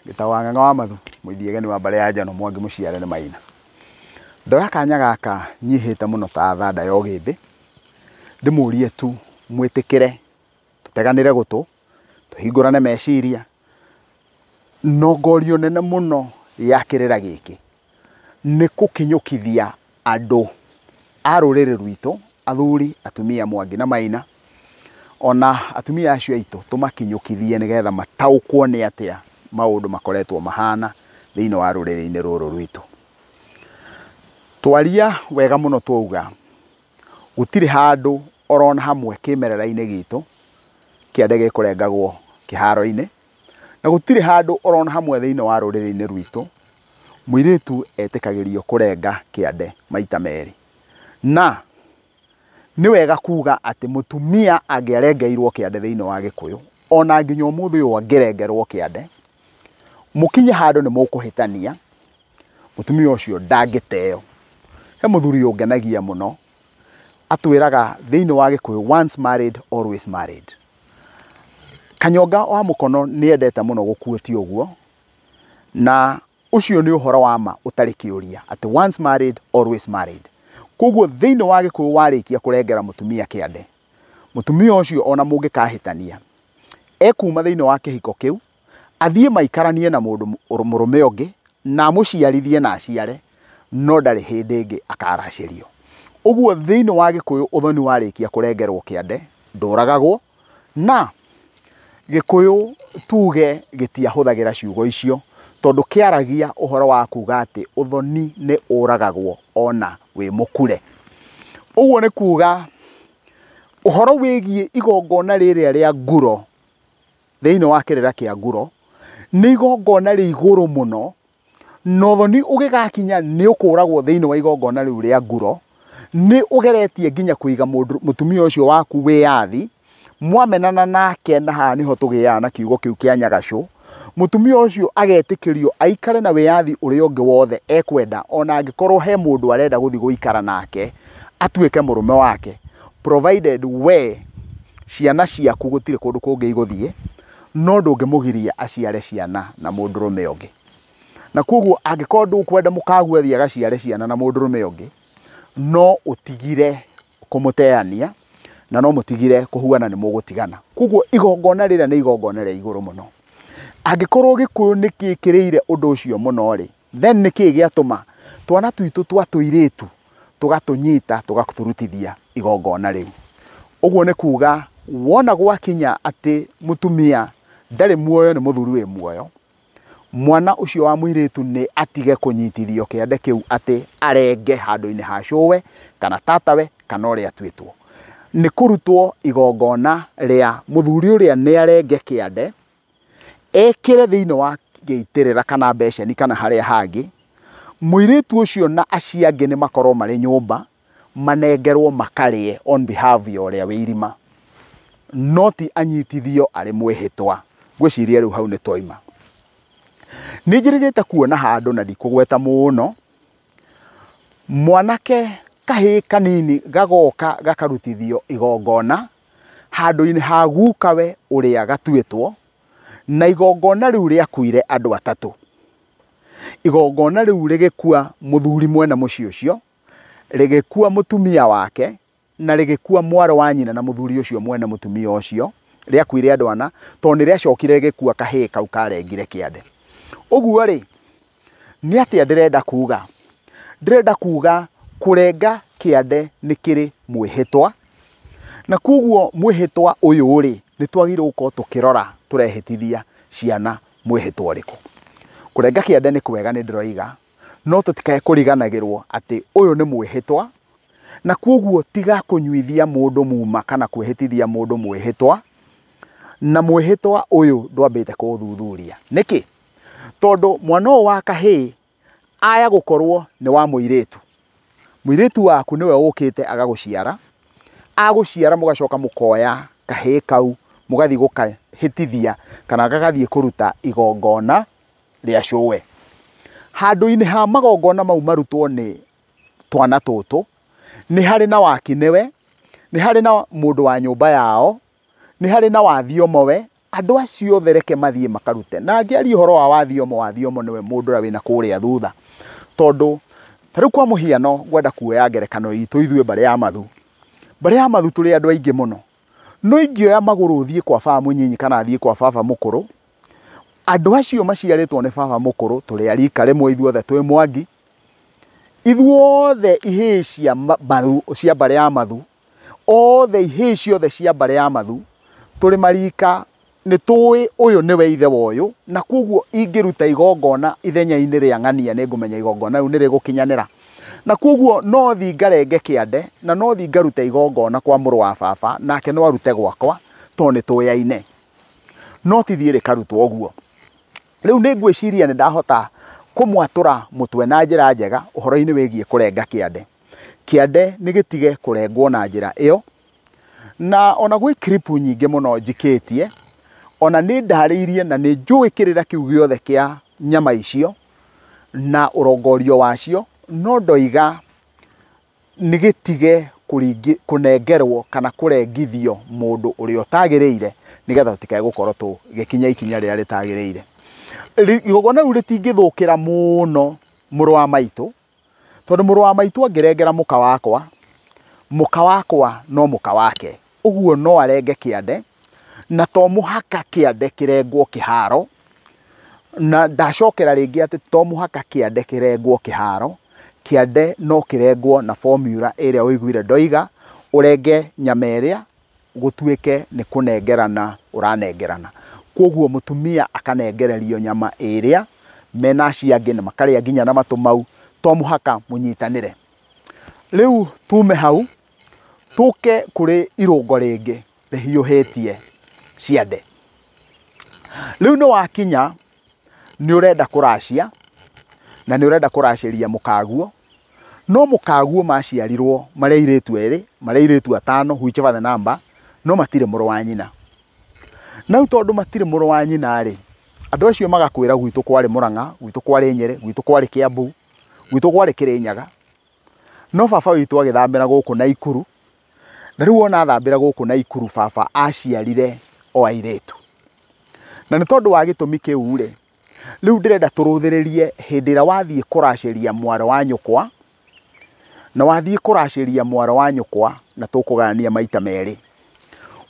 Gĩtawang'ang'a wa mathu mũithiageni wa mbare ya njano mwangi mũciare nĩ maina ndoya kanya gaka nyihĩte mũno ta thanda ya ũgĩmbĩ ndĩmũrie tu mwĩtĩkĩre tũteganĩre gũtũ tũhingũrane meciria no ngorio nene mũno ya kĩrĩra gĩkĩ nĩ kũkinyũkithia andũ a rũrĩrĩ rwitũ, athuri, atumia, mwangi na maina, ona atumia acio aitũ tũmakinyũkithie nĩgetha mataũkwo nĩ atĩa maũndũ makoretwo mahana thĩinĩ wa rũrĩrĩ-inĩ rũrũ rwitũ. Twaria wega mũno twauga gũtirĩ handũ orona hamwe kĩmerera-inĩ gitũ kĩa ndege ĩkũrengagwo kĩharo-inĩ, Na gũtirĩ handũ orona hamwe thĩinĩ wa rũrĩrĩ-inĩ rwitũ mũirĩtu etĩkagĩrio kũrenga kĩande maita merĩ. Na nĩ wega kuga atĩ mũtumia angĩarengeirwo kĩande thĩinĩ wa Gĩkũyũ, ona nginya ũmũthĩ ũyũ angĩrengerwo kĩande, mũkinye handũ nĩ mũkũhĩtania, mũtumia ũcio ndangĩteo. He mũthuri ũngenagia mũno, atwĩraga thĩinĩ wa Gĩkũyũ once married always married. Kanyonga wa mũkono nĩ endete mũno gũ quote ũguo, na ũcio nĩ ũhoro wa ma ũtarĩ kĩũria atĩ once married always married. Koguo thĩinĩ wa Gĩkũyũ warĩkia kũrengera mũtumia kĩande, mũtumia ũcio ona mũngĩkahĩtania, ekuma thĩinĩ wa kĩhiko kĩu, athiĩ maikaranie na mũndũ mũrũme ũngĩ na amũciarithie na aciare, no ndarĩ hĩndĩ ĩngĩ akaracĩrio. Ũguo thĩinĩ wa Gĩkũyũ ũthoni warĩkia kũrengerwo kĩande ndũragagwo na Gĩkũyũ tuge gĩtiahũthagĩra ciugo icio tondũ kĩaragia ũhoro wa kuga atĩ ũthoni nĩ ũragagwo ona wĩ mũkure. Ũguo nĩ kuga ũhoro wĩgiĩ igongona rĩrĩa rĩa nguro thĩinĩ wa kĩrĩra kĩa nguro nĩ igongona rĩ igũrũ mũno na ũthoni ũgĩgakinya nĩ ũkũragwo thĩinĩ wa igongona rĩu rĩa nguro nĩ ũgeretie nginya kũiga mũndũ- mũtumia ũcio waku wĩyathi mwamenana nake na haha nĩho tũgĩaga na kiugo kĩu kĩa nyagacũ mũtumia ũcio agetĩkĩrio aikare na wĩyathi ũrĩa ũngĩ wothe ekwenda ona angĩkorwo he mũndũ arenda gũthiĩ gũikara nake atuĩke mũrũme wake provided we ciana ciaku gũtirĩ kũndũ kũngĩ igũthiĩ no ndũngĩmũgiria aciare ciana na mũndũrũme ũngĩ. Na kwoguo angĩkorwo ndũkwenda mũkagu athiĩ agaciare ciana na mũndũrũme ũngĩ, no ũtigire kũmũteania na no mũtigire kũhuana nĩ mũgũtigana. Kwoguo igongona rĩrĩa nĩ igongona rĩa igũrũ mũno. Angĩkorwo Gĩkũyũ nĩ gĩkĩrĩire ũndũ ũcio mũno-rĩ, Then nĩ kĩĩ gĩatũma twana twitũ twa tũirĩtu tũgatũnyita tũgatũrutithia igongona rĩu? Ũguo nĩ kuuga wona gwakinya atĩ mũtumia ndarĩ muoyo nĩ mũthuri wĩ muoyo, mwana ũcio wa mũirĩtu nĩ atige kũnyitithio kĩande kĩu atĩ arenge handũ-inĩ ha cũwe kana tatawe kana ũrĩa atuĩtwo. Nĩ kũrutwo igongona rĩa mũthuri ũrĩa nĩ arenge kĩande. ekĩre thĩinĩ wa gĩitĩrĩra kana mbeceni kana harĩa hangĩ, mũirĩtu ũcio na acio angĩ nĩ makorwo marĩ nyũmba manengerwo makarĩe on behalf ya ũrĩa wĩ irima, no ti anyitithio arĩ mwĩhĩtwa. Ngwĩciria rĩu hau nĩ twaima. Nĩ njĩrĩgĩte kuona handũ na ndikũgweta mũno, mwanake kahĩĩ kanini gagoka gakarutithio igongona handũ-inĩ ha gukawe ũrĩa gatuĩtwo, na igongona rĩu rĩakuire andũ atatũ. Igongona rĩu rĩgĩkua mũthuri mwene mũciĩ ũcio, rĩgĩkua mũtumia wake, na rĩgĩkua mwarĩ wa nyina na mũthuri ũcio mwene mũtumia ũcio, rĩakuire andũ ana, tondũ nĩ rĩacokire rĩgĩkua kahĩĩ kau karengire kĩande. Ũguo-rĩ, nĩ atĩa ndĩrenda kuga? Ndĩrenda kuga kũrenga kĩande nĩ kĩrĩ mwĩhĩtwa, Na kwoguo mwĩhĩtwa ũyũ-rĩ, nĩ twagĩrĩirwo gũkorwo tũkĩrora tũrehĩtithia ciana mwĩhĩtwa ũrĩkũ. Kũrenga kĩande nĩ kwega nĩ ndĩroiga, no tũtikae kũriganagĩrwo atĩ ũyũ nĩ mwĩhĩtwa, na kwoguo tiga kũnyuithia mũndũ muma kana kwĩhĩtithia mũndũ mwĩhĩtwa, na mwĩhĩtwa ũyũ ndwambĩte kũũthuthuria. Nĩkĩ? Tondũ mwana ũyũ wa kahĩĩ Aya gũkorwo nĩ wa mũirĩtu. Mũirĩtu waku nĩwe ũkĩte agagũciara, agũciara mũgacoka mũkoya kahĩĩ kau mũgathiĩ gũkahĩtithia kana gagathiĩ kũruta igongona rĩa cũwe. Handũ-inĩ ha magongona mau marutwo nĩ twana tũtũ, nĩ harĩ na wakinewe, nĩ harĩ na mũndũ wa nyũmba yao Nĩ harĩ na wathiomo we? Andũ acio othe reke mathiĩ makarute. Na ngĩaria ũhoro wa wathiomo, wathiomo nĩwe mũndũ ũrĩa wĩna kũrĩa thutha. Tondũ ta rĩu kwa mũhiano ngwenda kuoya ngerekano itũ ithuĩ mbarĩ ya mathu. Mbarĩ ya mathu tũrĩ andũ aingĩ mũno. No ingĩoya magũrũ thiĩ kwa baba mũnyinyi kana thiĩ kwa baba mũkũrũ, andũ acio maciarĩtwo nĩ baba mũkũrũ tũrĩ a rika rĩmwe ithuothe twĩ Mwangi, ithuothe ihĩĩ cia mbarĩ ya mathu othe ihĩĩ ciothe cia mbarĩ ya mathu tũrĩ marika nĩ tũĩ ũyũ nĩwe ithe wa ũyũ na kwoguo ingĩruta igongona ithenya-inĩ rĩa ng'ania nĩ ngũmenya igongona rĩu nĩ rĩgũkinyanĩra na kwoguo no thi ngarenge kĩande na no thi ngaruta igongona kwa mũrũ wa baba nake no arute gwakwa tondũ nĩ tũyaine no ti thiĩ rĩkarutwo ũguo rĩu nĩ ngwĩciria nĩ ndahota kũmwatũra mũtwe na njĩra njega ũhoro-inĩ wĩgiĩ kũrenga kĩande kĩande nĩ gĩtige kũrengwo na njĩra ĩyo. Na ona gwĩ clip nyingĩ mũno njikĩtie, ona nĩ ndarĩirie na nĩ njũĩ kĩrĩra kĩu gĩothe kĩa nyama icio na ũrongorio wacio, no ndoiga nĩ gĩtige kũnengerwo kana kũrengithio mũndũ ũrĩa ũtagĩrĩire nĩgetha tũtikae gũkorwo tũgĩkinya ikinya rĩrĩa rĩtagĩrĩire. Igongona rĩu rĩtingĩthũkĩra mũno mũrũ wa maitũ Tondũ mũrũ wa maitũ angĩrengera mũka wakwa, mũka wakwa no mũka wake, ũguo no arenge kĩande, na to mũhaka kĩande kĩrengwo kĩharo, na ndacokera rĩngĩ atĩ to mũhaka kĩande kĩrengwo kĩharo, kĩande no kĩrengwo na formula ĩrĩa ũiguire ndoiga, ũrenge nyama ĩrĩa gũtuĩke nĩ kũnengerana ũranengerana. Kwoguo mũtumia akanengererio nyama ĩrĩa me na acio angĩ na makarĩa nginya na matũ mau, to mũhaka mũnyitanĩre. Rĩu tume hau tũke kũrĩ irũngo rĩngĩ rĩhiũhĩtie ciande. Rĩu nĩ wakinya nĩ ũrenda kũracia na nĩ ũrenda kũracĩria mũkaguo, no mũkaguo maciarirwo marĩ airĩtu erĩ, marĩ airĩtu atano whichever the number, no matirĩ mũrũ wa nyina. Na rĩu tondũ matirĩ mũrũ wa nyina rĩ, andũ acio magakwĩra gwitũ kwarĩ Mũrang'a, gwitũ kwarĩ Nyĩrĩ, gwitũ kwarĩ Kĩambu, gwitũ kwarĩ Kĩrĩnyaga. No baba witũ agĩthambĩra gũkũ Naikuru, na rĩu ona athambĩra gũkũ Naikuru baba aciarire o airĩtu. Na nĩ tondũ wa gĩtũmi kĩu rĩ, rĩu ndĩrenda tũrũthĩrĩrie hĩndĩ ĩrĩa wathiĩ kũracĩria mwarĩ wa nyũkwa, na wathiĩ kũracĩria mwarĩ wa nyũkwa, na tũkũgayania maita merĩ.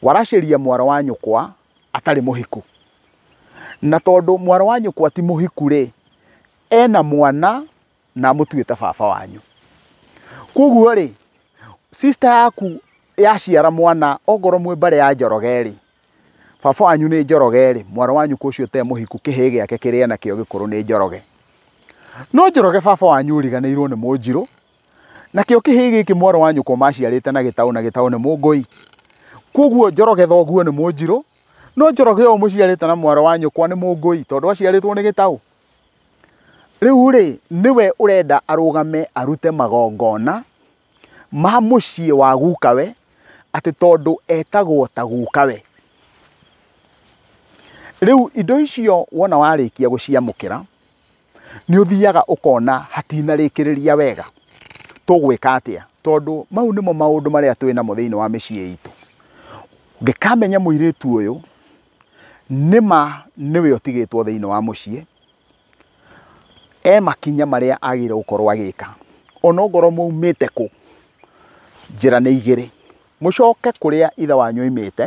Waracĩria mwarĩ wa nyũkwa atarĩ mũhiku. Na tondũ mwarĩ wa nyũkwa ti mũhiku rĩ, ena mwana na mũtue ta baba wanyu koguo rĩ sister yaku yaciara mwana ongorwo mwĩ mbare ya njoroge rĩ baba wanyu nĩ njoroge rĩ mwana wanyu kũcio te mũhiku kĩhĩ gĩake kĩrĩa nakĩo gĩkũrũ nĩ njoroge no njoroge baba wanyu ũriganĩirwo nĩ mũnjirũ nakĩo kĩhĩ gĩkĩ mwana wanyu kwa maciarĩte na gĩtaũ na gĩtaũ nĩ mũngũi koguo njoroge thoguo nĩ mũnjirũ no njoroge ũyũ mũciarĩte na mwana wanyu kwa nĩ mũngũi tondũ aciarĩtwo nĩ gĩtaũ Rĩu-rĩ, nĩwe ũrenda arũgame arute magongona ma mũciĩ wa gukawe, atĩ tondũ etagwo ta gukawe. Rĩu indo icio wona warĩkia gũciamũkĩra, nĩ ũthiaga ũkona hatinarĩkĩrĩria wega, tũgwĩka atĩa? Tondũ mau nĩmo maũndũ marĩa twĩ namo thĩinĩ wa mĩciĩ itũ. Ngĩkamenya mũirĩtu ũyũ... nĩma nĩwe ũtigĩtwo thĩinĩ wa mũciĩ, e makinya marĩa agĩrĩirwo gũkorwo agĩka, onokorwo maumĩte kũ, njĩra nĩ igĩrĩ, mũcoke kũrĩa ithe wanyu aimĩte,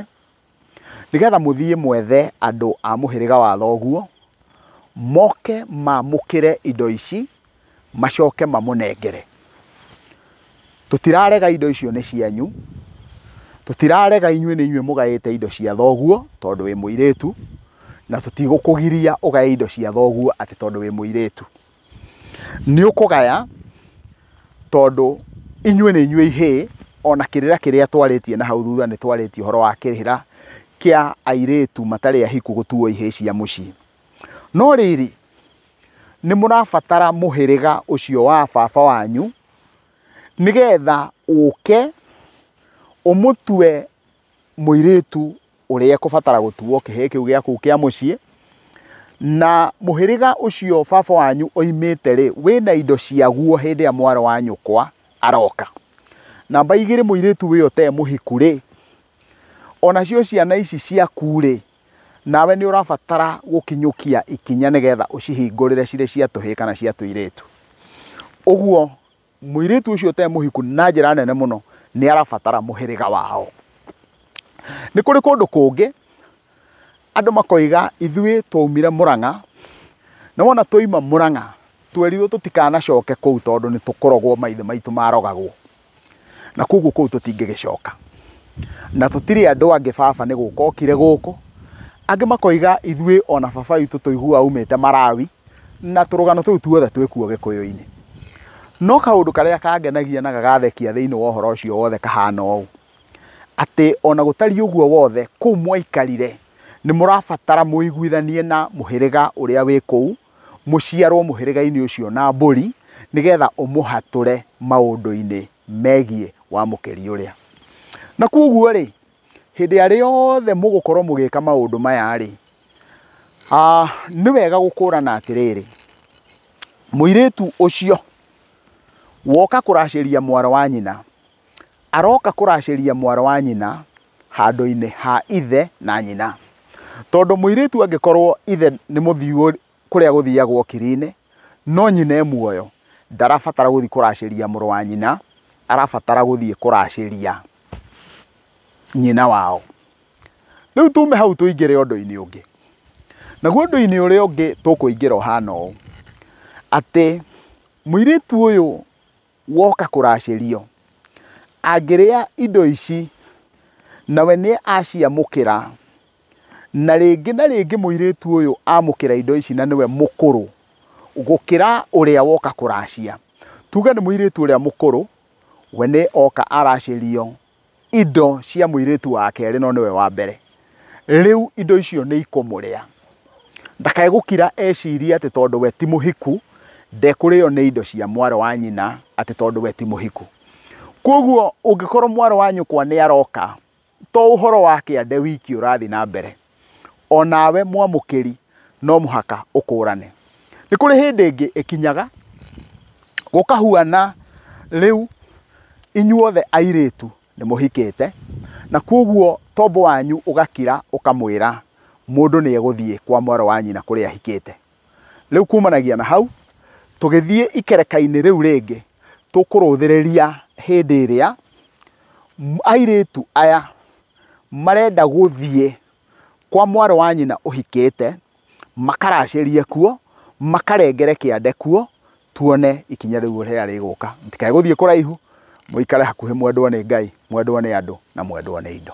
nĩgetha mũthiĩ mwethe andũ a mũhĩrĩga wa thoguo, moke mamũkĩre indo ici. macoke mamũnengere. Tũtirarega indo icio nĩ cianyu, tũtirarega inyuĩ nĩ inyuĩ mũgaĩte indo cia thoguo tondũ wĩ mũirĩtu, na tũtigũkũgiria ũgae indo cia thoguo atĩ tondũ wĩ mũirĩtu. Nĩ ũkũgaya tondũ inyuĩ nĩ inyuĩ ihĩĩ, ona kĩrĩra kĩrĩa twarĩtie na hau thutha nĩ twarĩtie ũhoro wa kĩrĩra kĩa airĩtu matarĩ ahiku gũtuo ihĩĩ cia mũciĩ. No rĩrĩ, nĩ mũrabatara mũhĩrĩga ũcio wa baba wanyu nĩgetha ũke ũmũtue mũirĩtu ũrĩa ekũbatara gũtuo kĩhĩĩ kĩu gĩa kũu kĩa mũciĩ. Na mũhĩrĩga ũcio baba wanyu oimĩte rĩ, wĩna indo ciaguo hĩndĩ ĩrĩa mwarĩ wa nyũkwa aroka. Namba igĩrĩ mũirĩtu ũyũ te mũhiku rĩ, onacio ciana ici ciaku rĩ, Nawe nĩ ũrabatara gũkinyũkia ikinya nĩgetha ũcihingũrĩre cirĩ cia tũhĩĩ kana cia tũirĩtu. Ũguo mũirĩtu ũcio ũtarĩ mũhiku na njĩra nene mũno nĩ arabatara mũhĩrĩga wao. Nĩ kũrĩ kũndũ kũngĩ andũ makoiga ithuĩ twaumire Mũrang'a na wona twauma Mũrang'a twerirwo tũtikanacoke kũu tondũ nĩ tũkũrogwo maithe maitũ marogagwo. na koguo kũu tũtingĩgĩcoka na tũtirĩ andũ angĩ baba nĩ gũka okire gũkũ angĩ makoiga ithuĩ ona baba witũ tũiguaga umĩte marawi na tũrũgano tũu tuothe twĩkuo gĩkũyũ-inĩ no kaũndũ karĩa kangenagia na gagathekia thĩinĩ wa ũhoro ũcio wothe kahana ũũ atĩ ona gũtariĩ ũguo wothe kũu mwaikarire nĩ mũrabatara mũiguithanie na mũhĩrĩga ũrĩa wĩ kũu mũciarwo mũhĩrĩga-inĩ ũcio na mbũri nĩgetha ũmũhatũre maũndũ-inĩ megiĩ wamũkĩri ũrĩa. Na kwoguo rĩ, hĩndĩ arĩa yothe mũgũkorwo mũgĩka maũndũ maya rĩ, nĩ wega gũkũrana atĩrĩrĩ, mũirĩtu ũcio woka kũracĩria mwarĩ wa nyina, aroka kũracĩria mwarĩ wa nyina handũ-inĩ ha ithe na nyina. Tondũ mũirĩtu angĩkorwo ithe nĩ mũthiu kũrĩa gũthiagwo kiri-inĩ, no nyina e muoyo, ndarabatara gũthiĩ kũracĩria mũrũ wa nyina, arabatara gũthiĩ kũracĩria nyina wao. Rĩu tume hau tũingĩre ũndũ-inĩ ũngĩ. Naguo ũndũ-inĩ ũrĩa ũngĩ tũkũingĩra ũhana ũũ, atĩ mũirĩtu ũyũ woka kũracĩrio, angĩrĩa indo ici, nawe nĩ aciamũkĩra, na rĩngĩ na rĩngĩ mũirĩtu ũyũ amũkĩra indo ici na nĩwe mũkũrũ gũkĩra ũrĩa woka kũracia. Tuge nĩ mũirĩtu ũrĩa mũkũrũ, we nĩ oka aracĩrio. indo cia mũirĩtu wa kerĩ no nĩwe wa mbere, rĩu indo icio nĩ ikũmũrĩa. Ndakae gũkira ecirie atĩ tondũ we ti mũhiku, ndekũrĩo nĩ indo cia mwarĩ wa nyina atĩ tondũ we ti mũhiku. Kwoguo ũngĩkorwo mwarĩ wa nyũkwa nĩ aroka, to ũhoro wa kĩande wiki ũrathiĩ na mbere. o nawe mwamũkĩri no mũhaka ũkũrane. Nĩ kũrĩ hĩndĩ ĩngĩ ĩkinyaga gũkahuana rĩu inyuothe airĩtu nĩ mũhikĩte na kwoguo tombo wanyu ũgakira ũkamwĩra mũndũ nĩ egũthiĩ kwa mwarĩ wa nyina kũrĩa ahikĩte. Rĩu kumanagia na hau tũgĩthiĩ ikereka-inĩ rĩu rĩngĩ tũkũrũthĩrĩria hĩndĩ ĩrĩa airĩtu aya marenda gũthiĩ kwa mwarĩ wa nyina ũhikĩte, makaracĩrie kuo, makarengere kĩande kuo, tuone ikinya rĩu rĩrĩa rĩgũka. Mũtikae gũthiĩ kũraihu, mũikare hakuhĩ mwendwo nĩ Ngai, mwendwo nĩ andũ, na mwendwo nĩ indo.